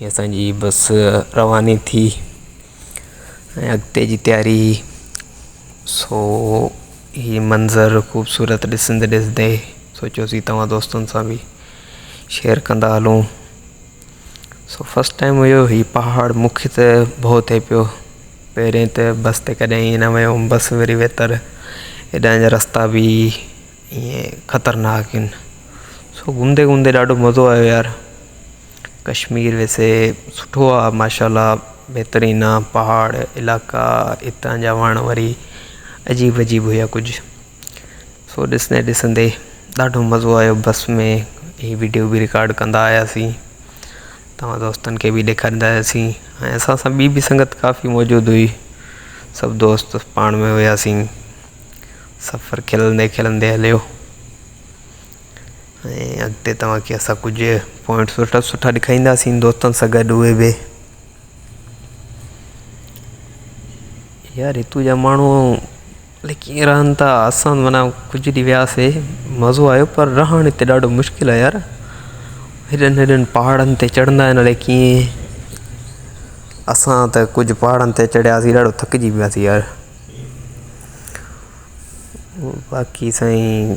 ھي اسان جي بس رواني ٿي ۽ اڳتي جي تياري سو ھي منظر خوبصورت ڏسندي ڏسندي سوچيوسي توھان دوستن سان به شيئر ڪندا ھلون سو فسٽ ٽائيم ھيو ھي پھاڙ مونکي ته ڀؤ ٿئي پيو پهرين ته بس تي ڪڏهن ائين نه ويو ھوم بس وري ويتر ھيڏانهن جا رستا به ائين خطرناڪ ھين سو گهمندي گهمندي ڏاڍو مزو آيو يار ڪشمير ويسي سٺو آ ماشاءالله بهترين آ پهاڙ علائقا اتان جا وڻ وري عجيب عجيب هيا ڪجهه سو ڏسندي ڏسندي ڏاڍو مزو آيو بس ۾ هي وڊيو به رڪارڊ ڪندا آياسين تمام دوستن کي به ڏيکاريندا آياسين ۽ اسان سان ٻي به سنگت ڪافي موجود هئي سڀ دوست پاڻ ۾ هياسين سفر کلندي کلندي هليو ۽ اڳتي توهان کي اسان ڪجهه پوائنٽ سٺا سٺا ڏيکارينداسين دوستن سان گڏ اهي به يار هتو جا ماڻهو الائي ڪيئن رهن ٿا اسان مانا ڪجهه ڏينهن وياسي مزو آيو پر رهڻ هتي ڏاڍو مشڪل آهي يار هيڏن هيڏن پهاڙن تي چڙهندا آهن الائي ڪيئن اسان ته ڪجهه پهاڙن تي چڙهياسي ڏاڍو ٿڪجي پياسي يار باقي سائين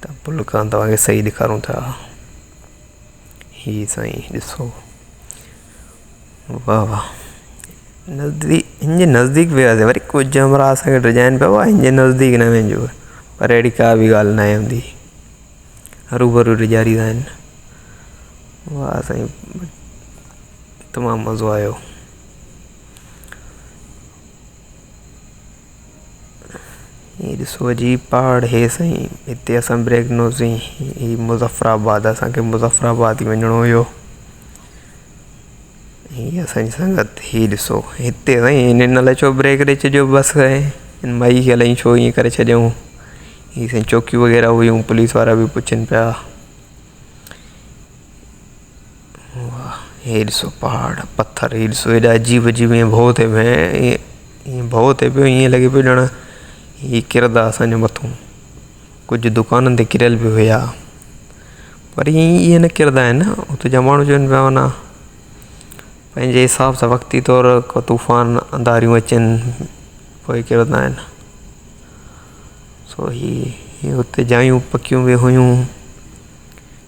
ته پل کان توهان کي صحيح ڏيکارون ٿا هي سائين ڏسو واهه واهه نزديڪ هن جي نزديڪ وياسي وري ڪجهه همراهه اسانکي ڊڄائين پيا هن جي نزديڪ نه وڃجو پر اهڙي ڪا بي ڳالهه ناهي هوندي هرو برو ڊيڄاريندا آهن واهه سائين تمام مزو آيو هي ڏسو عجيب پهاڙ هي سائين هتي اسان بريڪ نوزين هي مظفر آباد اسانکي مظفر آباد ٿي وڃڻو هيو هي اسانجي سنگت هي ڏسو هتي سائين هن الائي ڇو بريڪ ڏئي ڇڏيو بس سائين هن مئي کي الائي ڇو ائين ڪري ڇڏيائون هي سائين چوڪيون وغيره هيون پوليس وارا بي پڇن پيا واھ هي ڏسو پهاڙ پٿر هي ڏسو هيڏا عجيب عجيب ائين ڀؤ ٿئي پيا ائين ڀؤ ٿئي پيو ائين لڳي پيو ڄڻ هي ڪرندا اسانجي مٿون ڪجهه دڪانن تي ڪريل به هيا پر هي ائين نه ڪرندا آهن نه هتي جا ماڻهو چون پيا ورنه پنهنجي حساب سان وقتي طور ڪو طوفان انڌاريون اچن پوء ڪرندا آهن سو هي هتي جايون پڪيون به هيون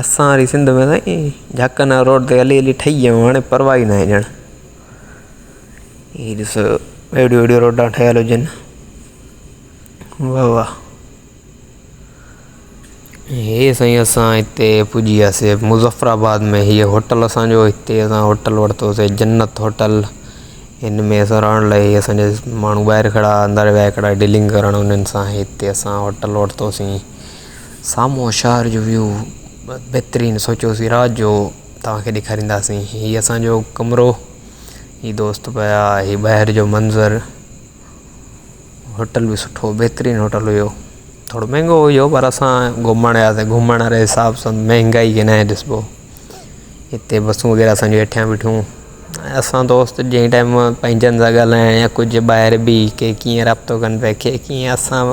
اسان واري سنڌ ۾ سائين جهڪن واري روڊ تي هلي هلي ٺهي ويا آهيون هاڻي پرواهه ئي ناهي ڄڻ هي ڏسو ويڏيو ويڏيو روڊا ٺهيل هجن واهه واهه هي سائين اسان هتي پڄي وياسي مظفر آباد ۾ هي هوٽل اسانجو هتي اسان هوٽل ورتوسي جنت هوٽل هن ۾ اسان رهڻ لاء هي اسانجا ماڻهو ٻاهر کڙا اندر ويا هڪڙا ڊيلنگ ڪرڻ هنن سان هتي اسان هوٽل ورتوسي سامهون شهر جو ويو بهترين سوچيوسي رات جو توهان کي ڏيکارينداسين هي اسان جو ڪمرو هي دوست پيا هي ٻاهر جو منظر هوٽل به سٺو بهترين هوٽل هيو ٿورو مهنگو هيو پر اسان گهمڻ وياسي گهمڻ واري حساب سان مهنگائي کي ناهي ڏسبو هتي بسون وغيره اسان جون هيٺيان بيٺون ۽ اسان دوست جنهن ٽائيم پنهنجن سان ڳالهائڻ يا ڪجهه ٻاهر به ڪي ڪيئن رابطو ڪن پيا ڪي ڪيئن اسان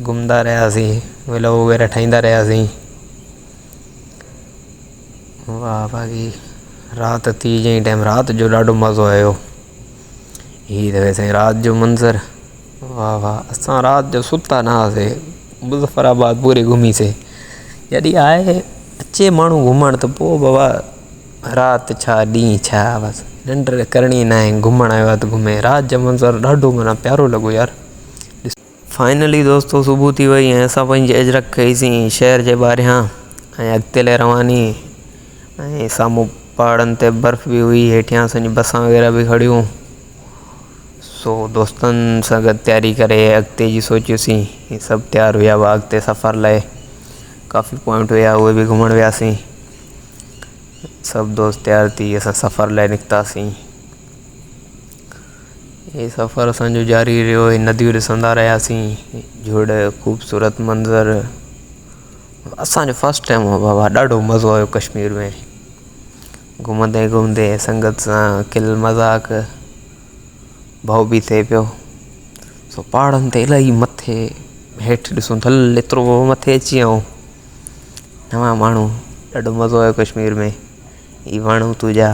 گهمندا رهياسين ولوگ وغيره ٺاهيندا رهياسين واه باقي رات ٿي جنهن ٽائم رات جو ڏاڍو مزو آيو هي ته ويسي رات جو منظر واه واه اسان رات جو ستا نه هئاسي مظفر آباد پوري گهميسي جڏهن آهي اچي ماڻهو گهمڻ ته پوء بابا رات ڇا ڏينهن ڇا بس ننڊ ته ڪرڻي نه آهي گهمڻ آيو آهي ته گهمي رات جو منظر ڏاڍو معنيٰ پيارو لڳو يار فائنلي دوستو صبح ٿي وئي ۽ اسان پنهنجي اجرڪ کئي سين شهر جي ٻاهريان ۽ اڳتي لئي رواني ۽ سامهون پهاڙن تي برف به هئي هيٺيان اسانجي بسان وغيره به کڙيون سو دوستن سان گڏ تياري ڪري اڳتي جي سوچيوسين هي سڀ تيار هيا هئا اڳتي سفر لئي ڪافي پوائنٽ هيا اهي به گهمڻ وياسين سڀ دوست تيار ٿي اسان سفر لئي نڪتاسين هي سفر اسان جو جاري رهيو هي نديون ڏسندا رهياسين جهڙ خوبصورت منظر اسانجو فسٽ ٽائم هو بابا ڏاڍو مزو آيو ڪشمير ۾ گهمندي گهمندي سنگت سان کل مذاق ڀؤ به ٿئي پيو سو پهاڙن تي الاهي مٿي هيٺ ڏسون ٿل ايترو هو مٿي اچي ويو نوان ماڻهو ڏاڍو مزو آيو ڪشمير ۾ هي وڻ هتو جا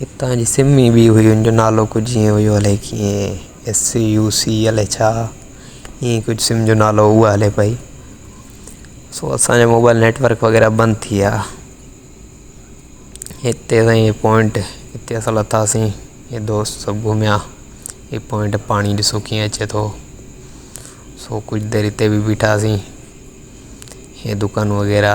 هتان جي سم ئي ٻي هئي ان جو نالو ڪجهه ائين هيو الائي ڪيئن ايس سي يو سي الائي ڇا ائين ڪجهه سم جو نالو هو اها هلي پئي سو اسان جو موبائل نيٽورڪ وغيره بند ٿي ويا هتي سائين هي پوائنٽ هتي اسان لٿاسين هي دوست سڀ گهميا هي پوائنٽ پاڻي ڏسو ڪيئن اچي ٿو سو ڪجهه دير هتي بي بيٺاسين هي دڪان وغيره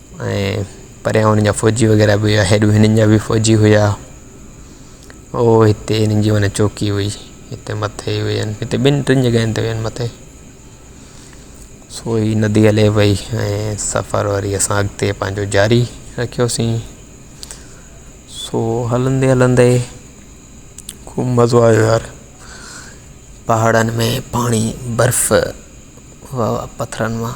۽ پريان هنن جا فوجي وغيره به هيا هيڏو هنن جا به فوجي هيا او هتي هنن جي معنيٰ چوڪي هئي هتي مٿي هئي هتي ٻن ٽن جڳهين تي هئي مٿي سو هي ندي هلي وئي ۽ سفر وري اسان اڳتي پنهنجو جاري رکيوسين سو هلندي هلندي خوب مزو آيو يار پهاڙن ۾ پاڻي برف واهه واهه پٿرن مان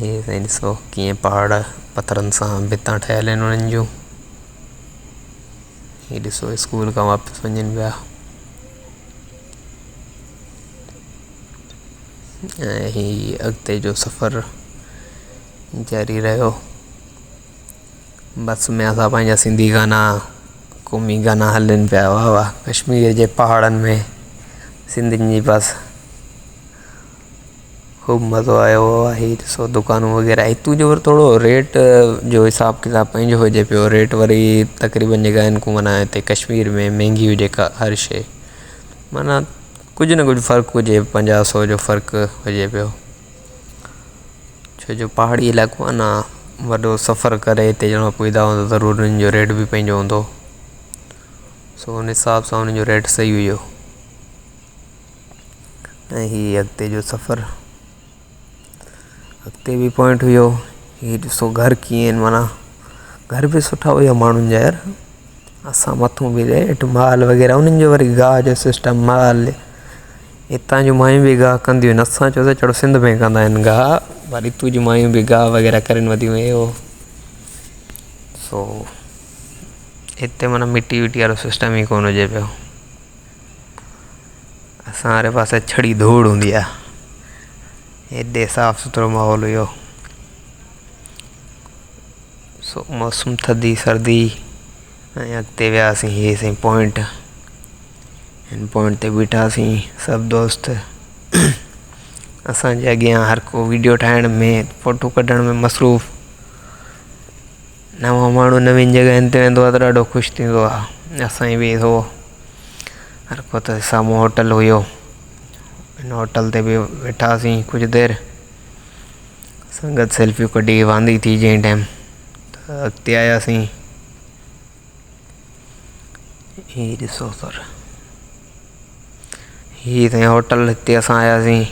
هي سائين ڏسو ڪيئن پهاڙ پٿرن سان ڀتان ٺهيل آهن انهن جون هي ڏسو اسڪول کان واپس وڃن پيا ۽ هي اڳتي جو سفر جاري رهيو بس ۾ اسان پنهنجا سنڌي گانا قومي گانا هلن پيا واهه واهه ڪشمير جي پهاڙن ۾ سنڌين جي بس خوب مزو آيو آهي ڏسو دڪانون وغيره هتون جو وري ٿورو ريٽ جو حساب ڪتاب پنهنجو هجي پيو ريٽ وري تقريبن جيڪا آهن ڪو معنيٰ هتي ڪشمير ۾ مهنگي هجي ڪا هر شيء معنيٰ ڪجهه نه ڪجهه فرق هجي پنجاهه سو جو فرق هجي پيو ڇو جو پهاڙي علائقو آهي نه وڏو سفر ڪري هتي ڄڻو ڪو ايندا هوندا ضرور انهن جو ريٽ به پنهنجو هوندو سو ان حساب سان انهن جو ريٽ سهي هيو ۽ هي اڳتي جو سفر اڳتي به پوائنٽ هيو هي ڏسو گهر ڪيئن آهن مانا گهر به سٺا هيا ماڻهن جا يار اسان مٿو به ريٽ مال وغيره انهن جو وري گاهه جو سسٽم مال هتان جون مايون به گاهه ڪنديون آهن اسان چوسي چڙو سنڌ ۾ ڪندا آهن گاهه پر هتو جون مايون به گاهه وغيره ڪرين وڌيون هيو سو هتي مانا مٽي وٽي وارو سسٽم ئي ڪونه هجي پيو اسان واري پاسي ڇڙي ڌوڙ هوندي آ هيڏي صاف سٿرو ماحول هيو سو موسم ٿڌي سردي ۽ اڳتي وياسين هي سين پوائنٽ هن پوائنٽ تي بيٺاسين سڀ دوست اسانجي اڳيان هر ڪو ويڊيو ٺاهڻ ۾ فوٽو ڪڍڻ ۾ مصروف نوان ماڻهو نوين جڳهين تي ويندو آهي ته ڏاڍو خوش ٿيندو آهي اسان جي به هو هر ڪو ته سامهون هوٽل هيو ان هوٽل تي به ويٺاسين ڪجهه دير سنگت سيلفيون ڪڍي واندي ٿي جنهن ٽائيم ته اڳتي آياسين هي ڏسو سر هي سائين هوٽل هتي اسان آياسين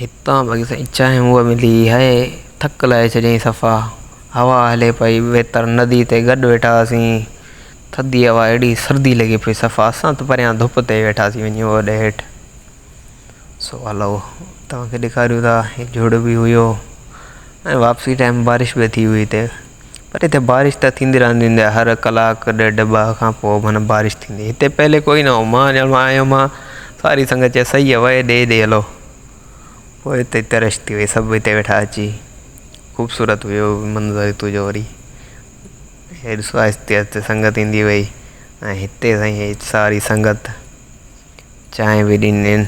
هتان باقي سائين چانهه هوء ملي هيء ٿڪ لاهي ڇڏيائين صفا هوا هلي پئي ويتر ندي تي گڏ ويٺا هئاسين ٿڌي هوا اهڙي سردي لڳي پئي صفا اسان ته پريان ڌپ تي ويٺاسين وڃي اوڏ هيٺ سو هلو توهان کي ڏيکاريون ٿا هي جهڙ به هيو ۽ واپسي ٽائيم بارش به ٿي هئي هتي پر هتي بارش ته ٿيندي رهندي هوندي آهي هر ڪلاڪ ڏيڍ ٻه کان پوء معنيٰ بارش ٿيندي هتي پهلي ڪوئي نه هو مان ڄڻ آئي هومان ساري سنگت چيس سهي آهي وهي ڏي ڏي هلو پوء هتي ترش ٿي وئي سڀ هتي ويٺا اچي خوبصورت هيو منظر هتو جو وري هي ڏسو آهستي آهستي سنگت ايندي وئي ۽ هتي سائين هي ساري سنگت چانهه به ڏنين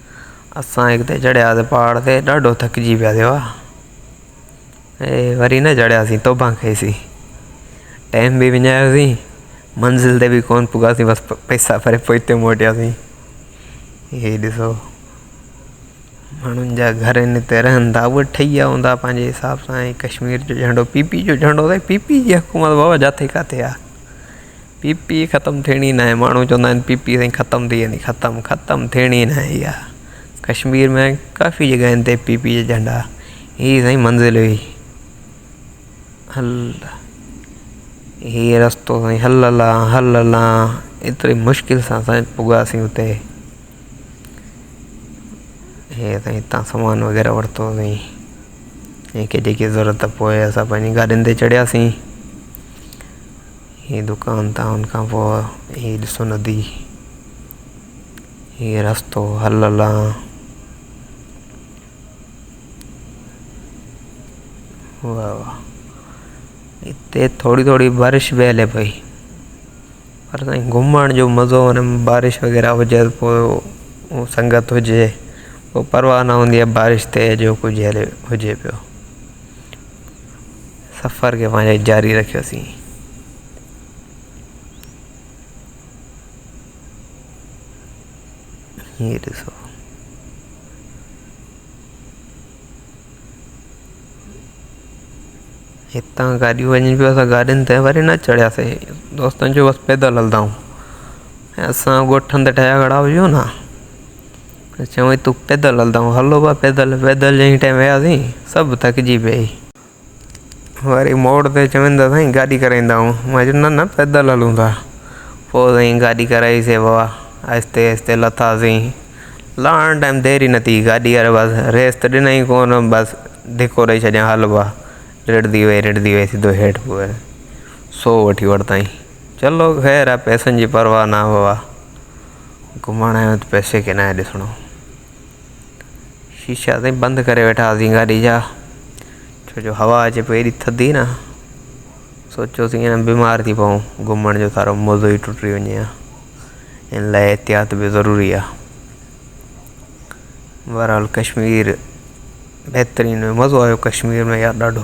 اسان هڪ دي چڙهياسين پهاڙ تي ڏاڍو ٿڪجي پياسين واهه اي وري نه چڙهياسين توبه کيسين ٽائيم به وڃايوسين منزل تي به ڪونه پڳاسين بس پئسا ڀري پوء هتي موٽياسين هي ڏسو ماڻهن جا گهر ان تي رهن ٿا اهي ٺهي ويا هوندا پنهنجي حساب سان ڪشمير جو جهنڊو پي پي جو جهنڊو اٿئي پي پي جي حڪومت بابا جاٿي ڪاٿي آهي پي پي ختم ٿيڻي ناهي ماڻهو چوندا آهن پي پي سائين ختم ٿي ويندي ختم ختم ٿيڻي ناهي اها ڪشمير ۾ ڪافي جڳهين تي پي پي جا جهنڊا هي سائين منزل هئي هل هي رستو سائين هل هل هل هل ايتري مشڪل سان سائين پڳاسين اتي هي سائين هتان سامان وغيره ورتو هئي جيڪي جيڪي ضرورت پوي اسان پنهنجي گاڏين تي چڙهياسين هي دڪان تان ان کان پوء هي ڏسو ندي هي رستو هل لان واهه واهه هتي ٿوري ٿوري بارش به هلي پئي پر سائين گهمڻ جو مزو ان ۾ بارش وغيره هجي پوء هو سنگت هجي پوء پرواهه نه هوندي آهي بارش تي جو ڪجهه هليو هجي پيو سفر کي پنهنجو جاري رکيوسين. هي ڏسو هتان گاڏيون وڃن پيون اسان گاڏين تي وري نه چڙهياسين دوستن چيو بس پيدل هلندائون اسان ڳوٺ هنڌ ٺهيا کڙا هجون نه ته چوين تون پيدل هلندائون هلو بئا پيدل پيدل جئين ٽائين وياسين سڀ ٿڪجي پيا هي وري موڙ تي چوين ته سائين گاڏي ڪرائيندائون مان چيو نه نه پيدل هلون ٿا پوء سائين گاڏي ڪرائي سي بئا آهستي آهستي لٿاسين لهڻ ٽائيم دير ئي نه ٿي گاڏي واري بس ريس ته ڏنائين ڪونه بس ڌڪو ڏئي ڇڏيائين هل بئا رڙندي وئي رڙندي وئي سڌو هيٺ پوء سو وٺي ورتائين چلو خير آهي پئسن جي پرواهه نه بئا گهمڻ آيو آهيان ته پئسي کي ناهي ڏسڻو. شيشا تائين بند ڪري ويٺا هئاسين گاڏي جا ڇو جو هوا اچي پئي ايڏي ٿڌي نه سوچيوسين هن بيمار ٿي پئون گهمڻ جو سارو مزو ئي ٽٽي وڃي ها ان لاء احتياط به ضروري آهي بهرحال ڪشمير بهترين مزو آيو ڪشمير ۾ يار ڏاڍو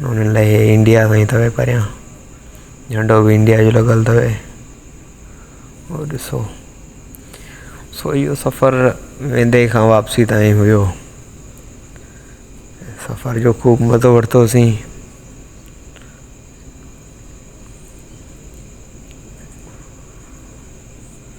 انهن لاء هي انڊيا سان ئي اٿو پريان جهنڊو به انڊيا جو لڳل اٿو هو ڏسو سو اهو سفر ويندي کان واپسي تائين هيو سفر جو خوب مزو ورتوسين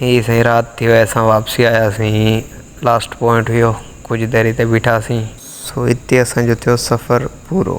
هي سائين رات ٿي وئي اسان واپسي آياسين هي لاسٽ پوائنٽ هيو ڪجهه دير هتي بيٺاسين. سو هتي اسان جو ٿيو سفر پورو.